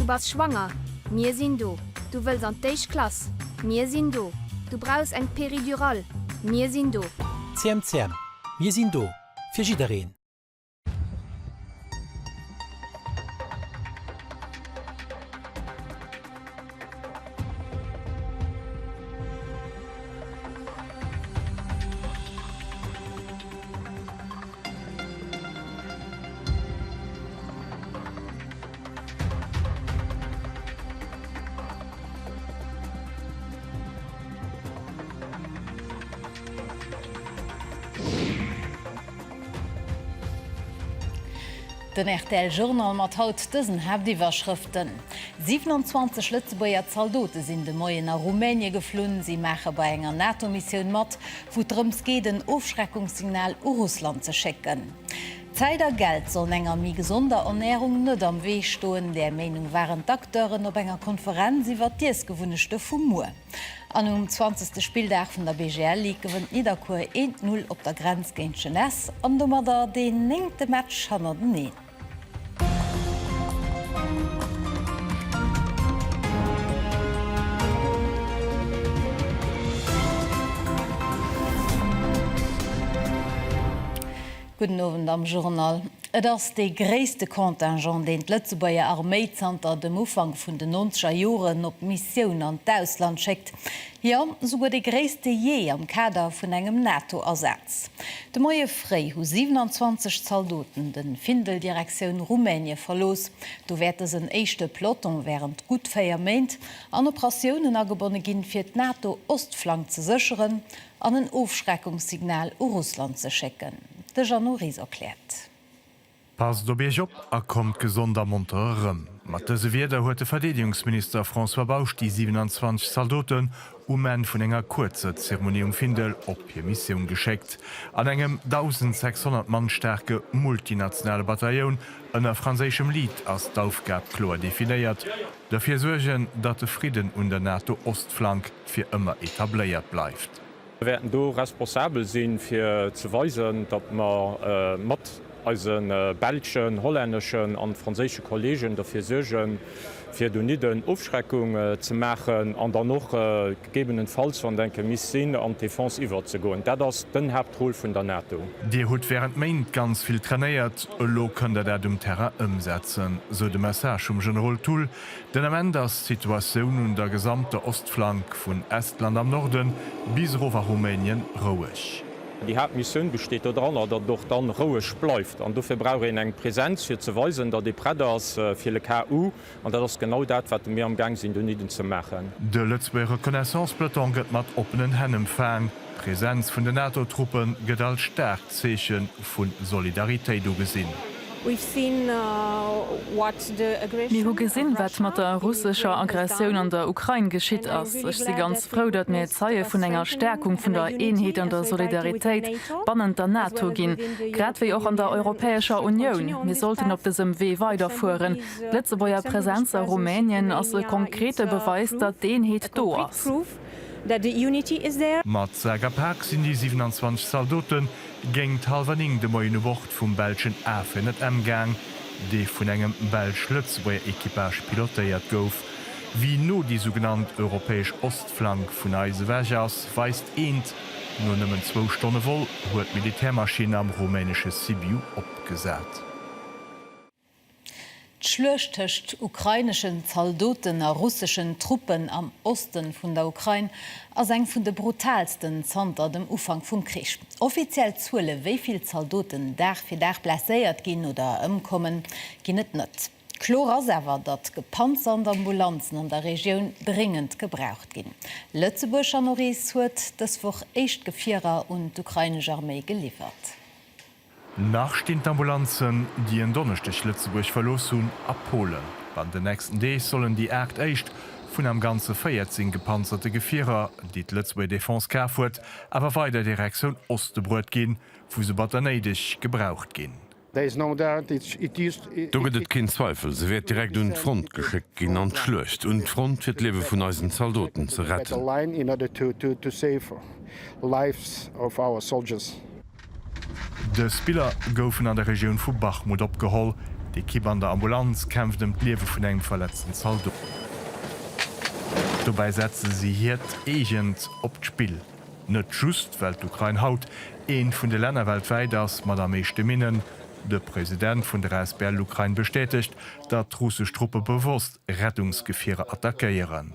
Du bass schwanger? Mir sinn do. Du wëlls an d'éischt Klass? Mir sinn do. Du brauchs eng Péridurale? Mir sinn do. CMCM, Mir sinn do fir jiddereen. Den rtl Journal mat haut dësen Haaptiwwerschrëften, 27 Lëtzebuerger Zaldote sinn de Moien a Rumänie geflunn, si maache bei enger NATO-Missioun mat. wou et drëms geet en Ofschreckungssignal u Russland ze schécken. Zäit a Geld sollen enger méi gesonder Ernärung net am Wee stoen, där Meenung waren d'Acteuren op enger Konferenz iwwert d'Iessgewunnechte vu muer. An um zwanzegste Spilldag vun der BGL Ligue gewënnt Nidderkuer eent Null op der Grenz géint Jeunesse an domadder deen néngte Match hannerteneen. Gudden Owend am Journal. Et ass dee gréisste Contingent, deen d'Lëtzebuerger Arméi zanter dem Ufank vun den Nonzeger Joren op Missioun an d'Ausland schéckt. Jo, souguer dee gréisste jee am Kader vun engem NATO-Asaz. De Moie fréi hu 27 Zaldoten de Findel Direktioun Rumänie verlooss. Do wäert dësen éischte Peloton wärend gutt 4 Méint an Operatiounen agebonne ginn, fir d'NATO-Ostflank ze sécheren an en Ofschreckungssignal u Russland ze schécken. De Jeannot Ries erkläert. Passt op Iech op a kommt gesond a monter erëm. Mat dëse Wierder huet de Verdeedegungsminister François Bausch déi 27 Zaldoten um Enn vun enger kuerzer Zeremonie um Findel op hir Missioun geschéckt. An engem 1.600 Mann staarke multinationale Batailloun ënner franséischem Lead ass d'Aufgab kloer definéiert, Dofir suergen, datt de Fridden un der NATO-Ostflank fir ëmmer etabléiert bleift. Mir wäerten do responsabel sinn, fir ze weisen, datt mer mat eise belschen, hollänneschen an franséische Kolleegen derfir suergen, fir donidden Ofschreckung ze maachen an dann och gegebenenfalls, wann et enke misst sinn, an d'Defense iwwerzegoen. Dat ass den Haaptrôle vun der NATO. Dir hutt während Méint ganz vill trainéiert, elo kënnt Der dat um Terrain ëmsetzen, sou de Message vum Generol Thull Den Ament ass d'Situatioun un der gesamter Ostflank, vun Estland am Norde bis erof a Rumänien, roueg. Déi Haaptmissioun besteet doranner, datt et och dann roueg bleift. An dofir brauch een eng Presenz, fir ze weisen, datt ee prett ass fir le cas où. An dat ass genau dat, wat mir amgaang sinn donidden ze maachen. De Lëtzebuerger Reconnaissance-Peloton gëtt mat oppenen Hänn emfaang. D'Presenz vun den NATO-Truppe gëtt als staarkt Zeeche vu Solidaritéit ugesinn. Mir hu gesinn, wat mat der russescher Aggressioun an der Ukrain geschitt ass. Ech si ganz frou, datt mir Zeie vun enger Stäerkung vun der Eenheet an der Solidaritéit bannent der NATO ginn, grad wéi och an der Europäescher Unioun. Mir sollten op dësem Wee weiderfueren. D'Lëtzebuerger Presenz a Rumänien ass e konkrete Beweis, datt d'Eenheet do ass. that the unity is there. Mat Sak a Pak sinn déi 27 Zaldote géingt hallwer 9 de Moien u Bord vum belschen A400M gaang, dee vun engem belsch-Lëtzebuerger Equipage pilotéiert gouf. Wéi no déi sougenannt europäesch Ostflank vun eis ewech ass, weist eent, No nëmmen zwou Stonne Vol huet d'Militärmaschinn am rumänesche Sibiu opgesat. D'Schluecht tëscht ukraineschen Zaldoten a russeschen Truppen am Oste vun der Ukrain ass eng vun de brutaalsten zanter dem Ufank vum Krich. Offiziell Zuele wéi vill Zaldoten Dag fir Dag blesséiert ginn oder ëmkommen, ginn et net. Kloer ass awer, datt Gepanzer an d'Ambulanzen an der Regioun dréngend gebraucht ginn. Lëtzebuerg an Norees huet dës Woch éischt Gefierer un d'ukrainesch Arméi geliwwert. Nach stinn d'Ambulanzen, déi en Donneschdeg Lëtzebuerg verlooss hunn, a Polen. Bannent den nächsten Deeg sollen déi aacht éischt vun am Ganze 14 gepanzerte Gefierer, déi d'Lëtzebuerger Defense kaf huet, awer weider Direktioun Oste bruet ginn, wou se batter néideg gebraucht ginn. Do gëtt et keen Zweifel, se wäert direkt un d'Front geschéckt ginn, an d'Schluecht un d'Front, fir d'Liewe vun eisen Zaldoten ze retten. Dës Biller goufen an der Regioun vu Bachmut opgeholl. D'Ekipp an der Ambulanz kämpft ëm d'Liewe vun engem verletzten Zaldot. Dobäi setze si hiert eegent op d'Spill. Net just, well d'Ukrain haut eent vun de Länner weltwäit ass mat am meeschte Minnen. De President vun der asbl Ukrain bestätegt, datt russesch Truppe bewosst Rettungsgefierer attackéieren.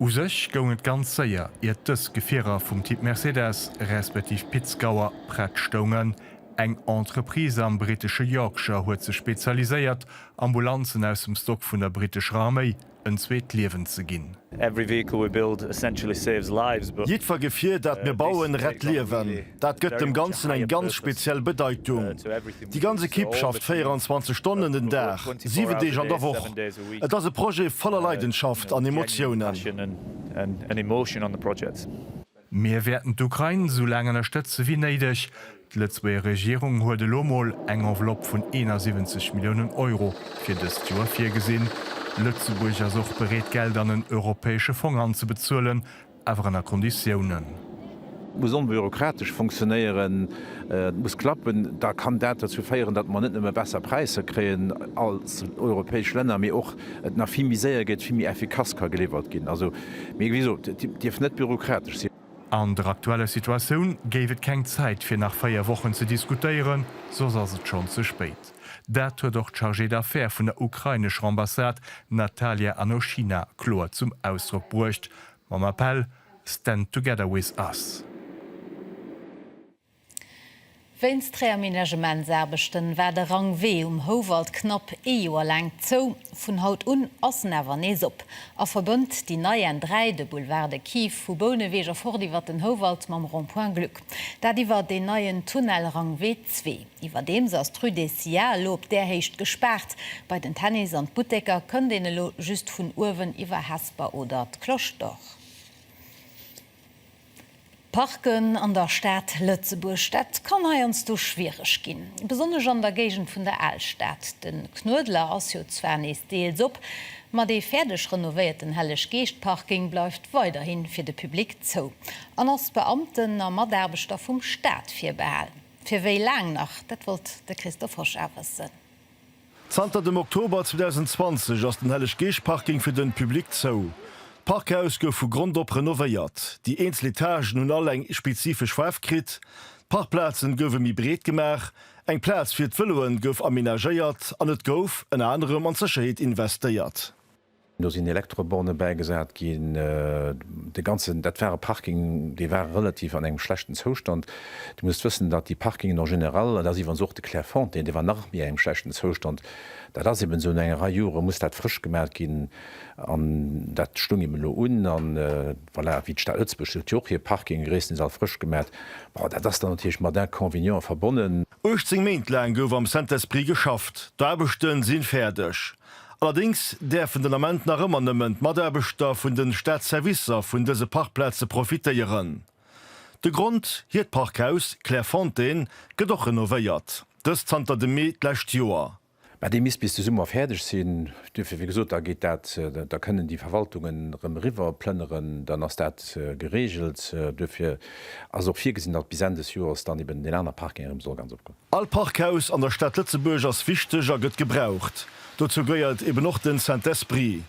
U sech goung et ganz séier, iert dës Gefierer vum Typ Mercedes, respektiv Pit-Scouer, prett stoungen. Eng Entreprise am brittesche Yorkshire huet sech spezialiséiert, Ambulanzen aus dem Stock vun der brittescher Arméi en zweet Liewen ze ginn. Jiddwer Gefier, dat mir bauen, rett Liewen. Dat gëtt dem Ganzen eng ganz speziell Bedeitung. Déi ganz Ekipp schafft 24 Stonnen den Dag, 7 Deeg an der Woch. Et ass e Projet voller Leidenschaft an Emotiounen. Mir wäerten d'Ukrain esou laang ënnerstëtze wéi néideg. D'Lëtzebuerger Regierung huet elo mol eng Enveloppe vun 71 Milliounen Euro fir dëst Joer virgesinn. Lëtzebuerg ass och bereet Geld an en europäesche Fong anzebezuelen. Awer ënner Konditiounen. Muss onbürokratesch funktionéieren, et muss klappen, da kann dat derzou féieren, datt mer net nëmme besser Präisser kréien als europäesch Länner, mee och et nach vill méi séier geet, vill méi effikass ka geliwwert ginn. Also, mee wéi gesot, et dierf net bürokratesch sinn. An der aktueller Situatioun géif et keng Zäit fir nach véier Wochen ze diskutéieren, soss ass et schonn ze spéit. Dat huet och d'Chargée d'affaires vun der ukrainescher Ambassade Natalia Anoshina kloer zum Ausdrock bruecht. Mam Appell Stand together with us! Wéinst Réaménagementsaarbechten war de Rangwee um Houwald knapp ee Joer laang zou. Vun haut un ass en awer nees op a verbënnt déi nei N3, de Boulevard de Kief vu Bouneweg a fort iwwer den Houwald mam Rond-point Gluck. Dat iwwert een neien Tunnel, Rangwee 2. Iwwerdeems ass d'Rue des Sillars elo op där Héicht gespaart. Bei den Tennis an d'Butteker kënnt een elo just vun uewen iwwer Hesper oder d'Cloche d'Or. Parken an der Stad Lëtzebuerg, dat kann heiansdo schwiereg ginn. Besonnesch an der Géigend vun der Alstad. De Knuedler ass jo zwar nees deels op, ma dee fäerdeg renovéierten Helleg-Geescht-Parking bleift weiderhi fir de Public zou an ass Beamten a Mataarbechter vum Staat virbehalen. Fir wéi laang nach? Dat wollt de Christoph Hosch a wëssen. Zanter dem Oktober 2020 ass den Helleg-Geescht-Parking fir den Public zou. D'Parkhaus gouf vu Grond op renovéiert. Déi eenzel Etagen hunn all eng spezifesch Faarf kritt. D'Parkplazen gouwe méi breet gemaach, eng Plaz fir d'Vëloen gouf amenagéiert an et gouf ënner anerem an d'Sécherheet investéiert. Do sinn Elektroborne bäigesat ginn. De ganzen, dat war e Parking, dee war relativ an engem schlechten Zoustand. Dir musst wëssen, datt déi Parkingen en général, an dat ass iwwerens och de Clairefontaine, dee war nach méi engem schlechten Zoustand, dat ass eben esou, no enger Rei Jore muss dat frësch gemaat ginn an dat stoung eben elo un. A voilà, wéi d'Stad Lëtzebuerg huet jo och hir Parkinge gréisstendeels all frësch gemaat. Bon, dat ass dann natierlech mat Inconvenienten verbonnen. 18 Méint laang gouf am Saint-Esprit geschafft. D'Aarbechte sinn fäerdeg. Allerdéngs däerfen den Ament nach ëmmer nëmmen d'Mataarbechter vun de Staatsservicer vun dëse Parkplaze profitéieren. De Grond, hiert Parkhaus Clairefontaine gëtt och renovéiert, dëst zanter dem Mee d'lescht Joer. Mä dee misst bis de Summer fäerdeg sinn. Duerfir, wéi gesot, da geet dat, da kënnen déi Verwaltungen erëm eriwwer plënneren, dann ass dat geregelt. Duerfir ass och virgesinn, datt bis Enn des Joers dann eben deen aner Parking erëm soll ganz opgoen. All Parkhaus an der Stad Lëtzebuerg ass wichteg a gëtt gebraucht. Dozou gëeiert eben och den Saint-Esprit.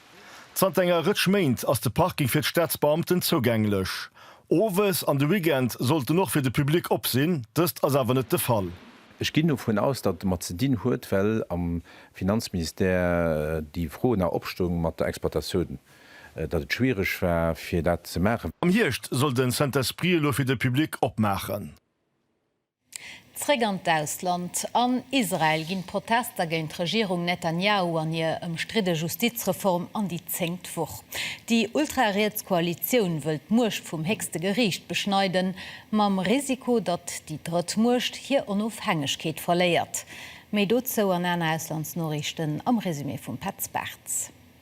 Zanter enger Rëtsch Méint ass de Parking fir d'Staatsbeamten zougänglech. Owes an de Weekend sollt en och fir de Public op sinn, dëst ass awer net de Fall. Ech ginn dovun aus, datt et domat ze dinn huet, well am Finanzministère déi Fro nach opstoung mat der Exploitatioun, datt et schwiereg war, fir dat ze maachen. Am Hierscht soll de Saint-Esprit elo fir de Public opmaachen. Zréck an d'Ausland, An Israel ginn d'Protester géint d'Regierung Netanjahu an hir ëmstridde Justizreform an déi zéngt Woch. Déi ultrariets Koalitioun wëll d'Muecht vum héchste Geriicht beschneiden, mam Risiko, datt déi drëtt Muecht hir Onofhängegkeet verléiert. Méi dozou an aner Auslandsnoriichten am Resumé vum Petz Bartz.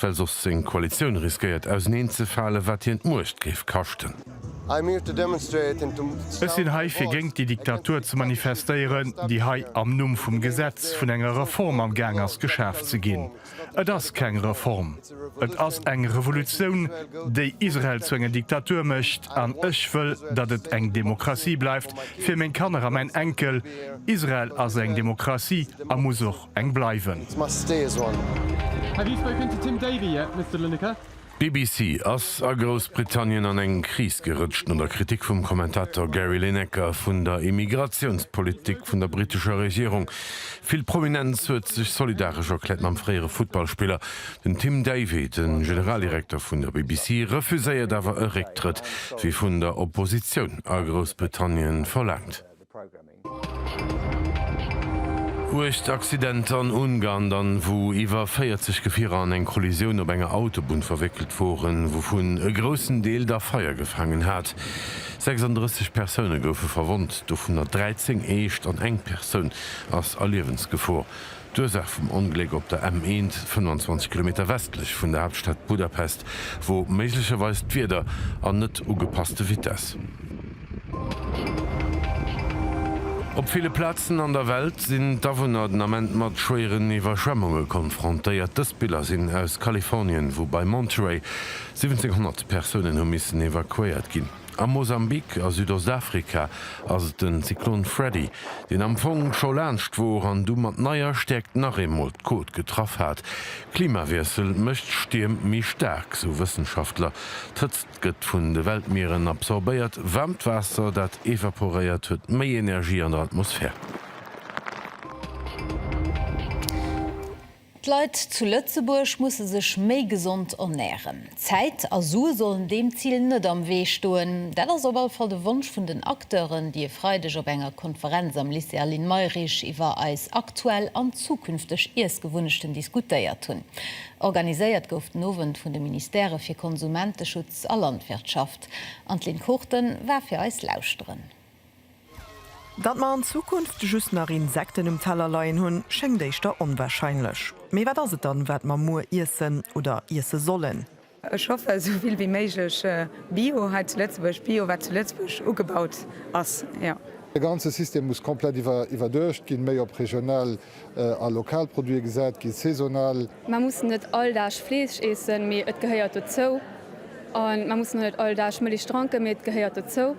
Well soss seng Koalitioun riskéiert auserneen ze falen, wat hien d'Muecht géif kaschten. Ech sinn hei fir géint déi Diktatur ze manifestéieren, déi hei am Numm vum Gesetz vun enger Reform am Gaang ass geschaf ze ginn. Et ass keng Reform, et ass eng Revolutioun, déi Israel zu enger Diktatur mécht. An ech wëll, datt et eng Demokratie bleift fir meng Kanner a mäin Enkel. Israel ass eng Demokratie a muss och eng bleiwen. D'BBC ass a Groussbritannien an eng Kris gerëtscht no der Kritik vum Kommentator Gary Lineker vun der Immigratiounspolitik vun der brittescher Regierung. Vill Prominenz huet sech solidaresch erkläert mam fréiere Futtballspiller. Den Tim Davie, de Generaldirekter vun der BBC, refuséiert awer e Récktrëtt, wéi vun der Oppositioun a Groussbritannien verlaangt. Uecht Accidenter an Ungarn dann, wou iwwer 40 Gefierer an eng Kollisioun op enger Autobunn verwéckelt woren, wouvun e groussen Deel da Feier gefaangen hat. 36 Persoune goufe verwonnt, dovunner 13 eescht an eng Persoun ass a Liewensgefor. D'Ursaach vum Ongléck op der M 1, 25 Kilometer westlech vun der Haaptstad Budapest, wor méiglecherweis d'Wieder an net ugepasste Vitesse. Op ville Plazen an der Welt sinn d'Awunner den Ament mat schwéieren Iwwerschwemmunge konfrontéiert. Dës Biller sinn aus Kalifornien, wou bei Monterey 1700 Persounen hu missen evakuéiert ginn. A Mosambik a Südostafrika ass et den Zyklon Freddy, deen am Fong scho laanscht wor an du mat neier Stäerkt nach eemol d'Côte getraff hat. Klimawiessel mécht Stierm méi staark, sou Wëssenschaftler. D'Hëtzt gëtt vun de Weltmieren absorbéiert, waarmt Waasser, dat evaporéiert, huet méi Energie an der Atmosphär. D'Leit zu Lëtzebuerg musse sech méi gesond ernären. Zäit a Sue sollen deem Zil net am Wee stoen. Dat ass op alle Fall de Wonsch vun den Acteuren, déi e Freideg op enger Konferenz am Lycée Aline Mayrisch iwwer eis aktuell an zukünfteg Iessgewunnechten diskutéiert hunn. Organiséiert gouf den Owend vun de Ministèrë fir Konsumenteschutz a Landwirtschaft. Anne-Lynn Kourten war fir eis lauschteren. Datt mer an Zukunft just nach Insekten um Teller leien hunn, schéngt éischter onwarscheinlech. Mee wat ass et dann, wat mer muer iessen oder iesse sollen? Ech hoffe sou vill wéi méiglech Bio hei zu Lëtzebuerg, Bio wat zu Lëtzebuerg ugebaut ass. De ganze System muss komplett iwwerduecht ginn, méi op regional a lokal Produite gesat ginn, saisonal. Mer mussen net all Dag Fleesch iessen, mee et gehéiert dozou. An mer mussen och net all Dag Mëlich dranken, mee et gehéiert dozou.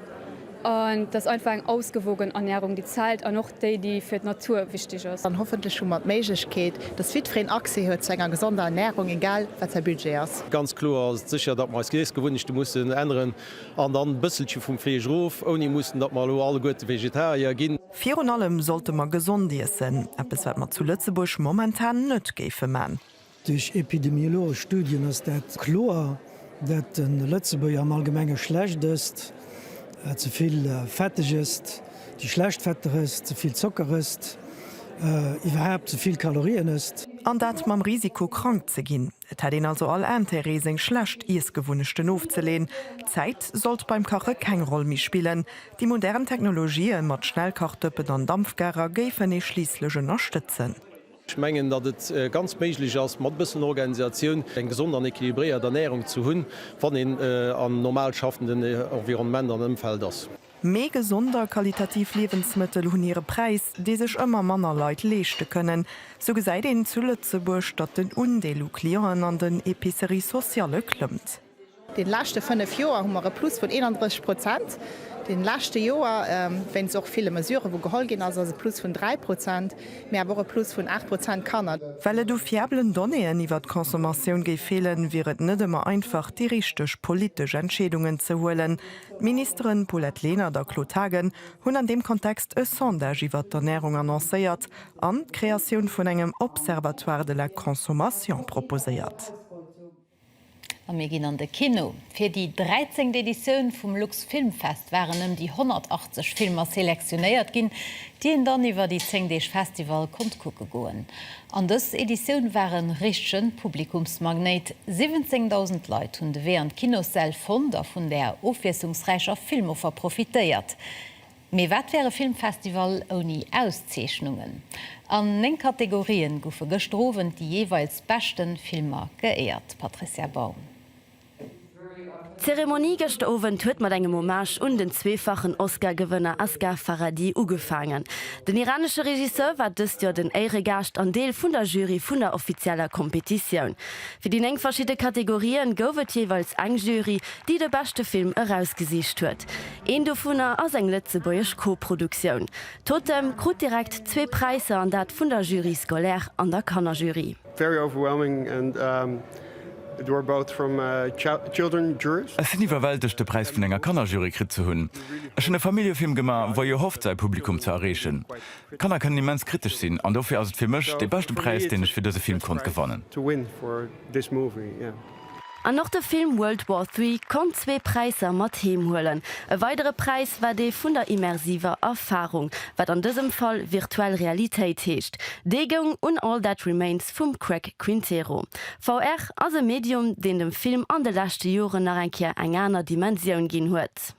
An et ass einfach eng ausgewogen Ernährung, déi zählt, an och déi, déi fir d'Natur wichtig ass. An hoffentlech hu mer d'Méiglechkeet, dass jidfereen Accès huet zu enger gesonder Ernährung, egal wat säi Budget ass. Ganz kloer ass et sécher, datt mer eis Iessgewunnechte mussen änneren an dann e bësselche vum Fleesch erof, ouni mussen, datt mer elo alleguerte Vegetarier ginn. Virun allem sollte mer gesond iessen, eppes wat mer zu Lëtzebuerg momentan net géife man. Duerch epidemiologesch Studien ass dat kloer, dat de Lëtzebuerger am allgemenge schlecht ësst, ze vill fetteg ësst, déi schlecht Fetter ësst, ze vill Zocker ësst, iwwerhaapt ze vill Kalorien ësst. An dat mam Risiko krank ze ginn. Et hätt een also all Intérêt, seng schlecht Iessgewunnechten ofzeleen. D'Zäit sollt beim Kache keng Roll méi spillen. Déi modern Technologië mat Schnellkachdëppen an Dampfgarer géifen ee schliisslech ënnerstëtzen. Ech mengen, datt et ganz méiglech ass, mat e bëssen Organisatioun eng gesond an equilibréiert Ernärung ze hunn, wann een an normal schaffenden Environnement an Ëmfeld ass. Mee gesond a qualitativ Liewensmëttel hunn hire Präis, dee sech ëmmer manner Leit leeschte kënnen. Sou gesäit een zu Lëtzebuerg, datt den Undeel u Clienten an den Epicerie socialle klëmmt. Déi leschte fënnef Joer hu mer e Plus vun 31 Prozent. Déi leschte Joer, wéinst och ville Mesurë wou geholl ginn ass, ass e Plus vun 3 Prozent, mee awer och e Plus vun 8 Prozent Kanner. Well et u fiabelen Donnéeën iwwer d'Consommatioun géif feelen, wier et net ëmmer einfach, déi richteg politesch Entscheedungen ze huelen. D'Ministere Paulette Lenert a Claude Haagen hunn an deem Kontext e Sondage iwwert d'Ernärung annoncéiert an d'Kreatioun vun engem Observatoire de la consommation proposéiert. A mir ginn an de Kino. Fir déi dräizengt Editioun vum Lux Film Fest waren ëm déi 180 Filmer selektionéiert ginn, déi een dann iwwer déi zéng Deeg Festival konnt kucke goen. An dës Editioun war en richtegen Publikumsmagnéit. 17.000 Leit hunn de Wee an d'Kinossäll fonnt a vun där ofwiesslungsräicher Filmoffer profitéiert. Mee wat wär e Filmfestival ouni Auszeechnungen? An 9 Kategorien goufe gëschter Owend déi jeeweils beschten Filmer geéiert. Patricia Baum. D'Zeremonie gëschter Owend huet mat engem Hommage un den zweefachen Oscar-Gewënner Asghar Farhadi ugefaangen. Den iranesche Regisseur war dëst Joer den Éiregaascht an Deel vun der Jury vun der offizieller Kompetitioun. Fir déi néng verschidde Kategorië gouf et jeeweils eng Jury, déi de beschte Film erausgesicht huet. Een dovunner ass eng lëtzebuergesch Co-Produktioun. Totem krut direkt zwee Präisser, an dat vun der Jury scolaire an der Kannerjury. Ech sinn iwwerwältegt, de Präis vun enger Kannerjury kritt ze hunn. Ech hunn e Familljefilm gemaach, wou jo hofft, säi Publikum ze erreechen. Kanner kënnen immens kritesch sinn, an dofir ass et fir mech dee beschte Präis, deen ech fir dëse Film konnt gewannen. An och de Film World War Three konnt zwee Präisser mat heem huelen. E weidere Präis war dee vun der immersiver Erfarung, wat an dësem Fall virtuell Realitéit heescht. Dee goung un All That Remains vum Craig Quintero. VR ass e Medium, deen dem Film an de leschte Joren nach eng Kéier eng aner Dimensioun ginn huet.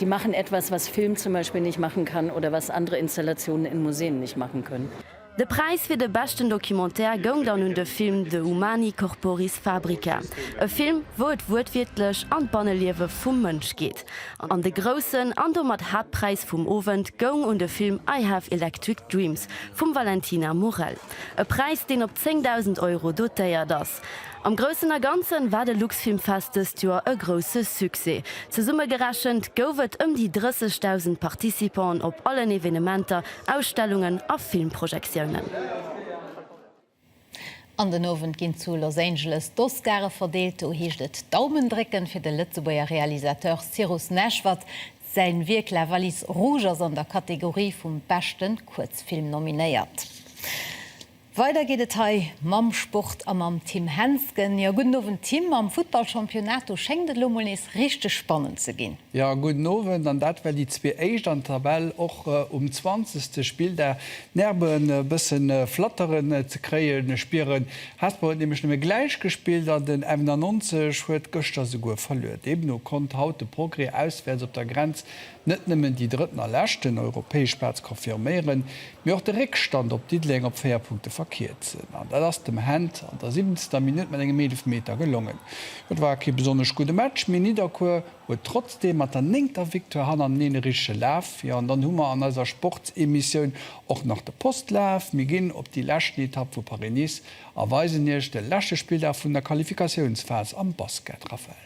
Die machen etwas, was Film zum Beispiel nicht machen kann oder was andere Installationen in Museen nicht machen können. De Präis fir de beschten Documentaire goung dann un de Film De humani corporis fabrica, e Film, wou et wuertwiertlech an d'Banneliewe vum Mënsch geet. An de groussen an domat Haaptpräis vum Owend goung un de Film I have electric dreams vum Valentina Morel, e Präis, deen op 10.000 Euro dotéiert as. Am Groussen a Ganzen war de Luxfilmfest dëst Joer e grousse Succès. Zesumme gerechent gouf et ëm déi 30.000 Participanten op allen Evenementer, Ausstellungen a Filmprojektiounen. An den Owend ginn zu Los Angeles d'Oscare verdeelt. Do heescht et Daumen drécken fir de Lëtzebuerger Realisateur Cyrus Naischwat. Säi Wierk La Valise Rouge ass an der Kategorie vum beschte Kuerzfilm nominéiert. Weider geet et hei mam Sport a mam Tim Hensgen. Jo, gudden Owend Tim. Am Futtball Championato schéngt et lo mol nees richteg spannend ze ginn. Jo, gudden Owend. An dat well déi zwee éischt an der Tabell och um zwanzegste Spilldag d'Nerve e bësse flatteren ze kréie spieren. Hesper huet nämlech nëmme gläich gespillt an den Emner 90 huet gëschter souguer verluer. Deemno konnt haut de Progrès auswäerts op der Grenz net nëmmen déi drëtten a leschten europäesch Plaz confirméieren, mee och de Réckstand op Diddeleng op 4 Punkte verkierzen. An dat ass dem Hent an der 17. Minutt mat engem Eelefmeter gelongen. Jo, et war kee besonnesch gudde Match, mee Nidderkuer huet trotzdeem mat der néngter Victoire hannerteneen e richtege Laf. Jo, an dann hu mer an eiser Sportsemissioun och nach de Postlaf. Mir ginn op déi leschten Etapp vu Paris-Nice a weisen Iech de leschte Spilldag vun der Qualifikatiounsphas am Basket, Raphael.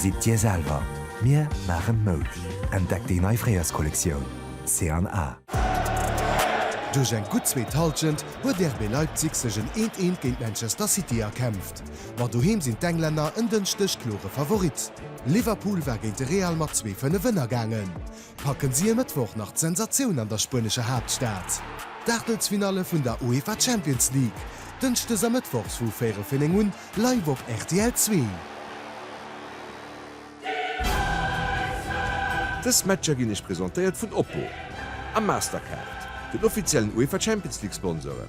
Sidd Dir selwer, mir maachen Moude! Entdeckt déi nei Fréierskollektioun C an A. Duerch eng gutt zweet Hallschent huet RB Leipzig sech en 'Eent-Eent' géint Manchester City erkämpft. Cup. Ma doheem sinn d'Englänner en Dënschdeg klore Favorit. Liverpool war géint de Real mat zwee Fënnef ënnergaangen. Packen si e Mëttwoch nach d'Sensatioun an der spuenescher Haaptstad? D'Aachtelsfinalle vun der UEFA Champions League, dënschdes a mëttwochs vu véierel fir néng un, live op rtl Zwee. Dës Matcher ginn iech presentéiert vun Oppo a Mastercard, den offiziellen UEFA Champions League Sponsoren.